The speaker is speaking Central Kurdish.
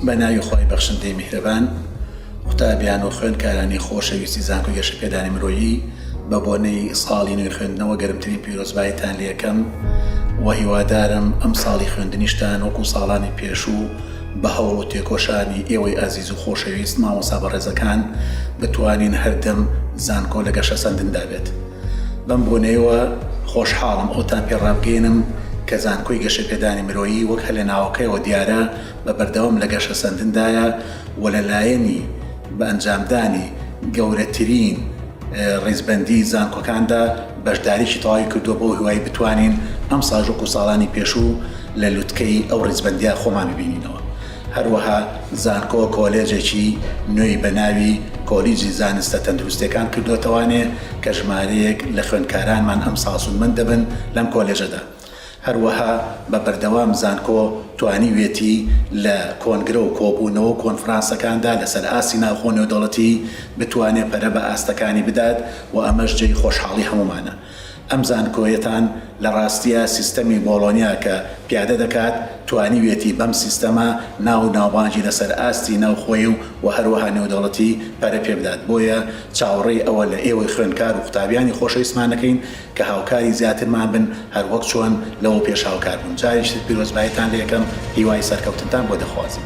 بە ناوی خۆی بەخشندەی میهرەبان قوتابیان و خوێندکارانی خۆشەویستی زانکۆ گەشە پێدانی مرۆیی بە بۆنەی ساڵی نوێ خوێندنەوە گەرمترین پیرۆزبایتان لەکەم و هیوادارم ئەم ساڵی خوێندنیشتان وەکو ساڵانی پێشوو بە هەوڵ و تێکۆشانی ئێوەی ئازیز و خۆشەویست مامۆسا بەڕێزەکان بتوانین هەردەم زانکۆ لە گەشە سەندندا بێت. بەم بۆنەیەوە خۆشحاڵم ئەوتان پێ ڕابگەینم کە زانکۆی گەشەپێدانی مرۆیی وەک هەر لە ناوەکەیەوە دیارە بە بەردەوام لە گەشەسەندندایە و لە لایەنی بە ئەنجامدانی گەورەترین ڕیزبەندی زانکۆکاندا بەشداریی تەواوی کردووە بەو هیوای بتوانین ئەمساژوک و ساڵانی پێشوو لە لوتکەی ئەو ڕیزبەندیە خۆمان ببینینەوە. هەروەها زانکۆ کۆلێجێکی نوێی بە ناوی کۆلیجی زانستە تەندروستیەکان کردۆتەوانێ کە ژمارەیەک لە خوێندکارانمان ئەمساڵ سوودمەند دەبن لەم کۆلێژەدا هەروەها بە بەردەوام زانکۆ توانیوێتی لە کۆنگرە و کۆبوونەوە و کۆنفرانسەکاندا لەسەر ئاستی ناوخۆ نێودەوڵەتی بتوانێ پەرە بە ئاستەکانی بدات و ئەمەش جێی خۆشحاڵی هەموومانە. ئەم زانکۆیەتان لە ڕاستیا سیستەمی بۆڵۆنیا کە پیادە دەکات، توانیویەتی بەم سیستەمە ناو و ناوبانگی لە سەر ئاستی ناوخۆیی و و هەروەها نێودەوڵەتی پەرە پێ بدات، بۆیە چاوەڕێی ئەوە لە ئێوەی خوێندکار و قوتابیانی خۆشەویستمان دەکەین کە هاوکاری زیاترمان بن هەر وەک چۆن لەوە پێش هاوکار بوون. جارێکی تر پیرۆزباییتان لێ ئەکەم، هیوای سەرکەوتنتان بۆ دەخوازم.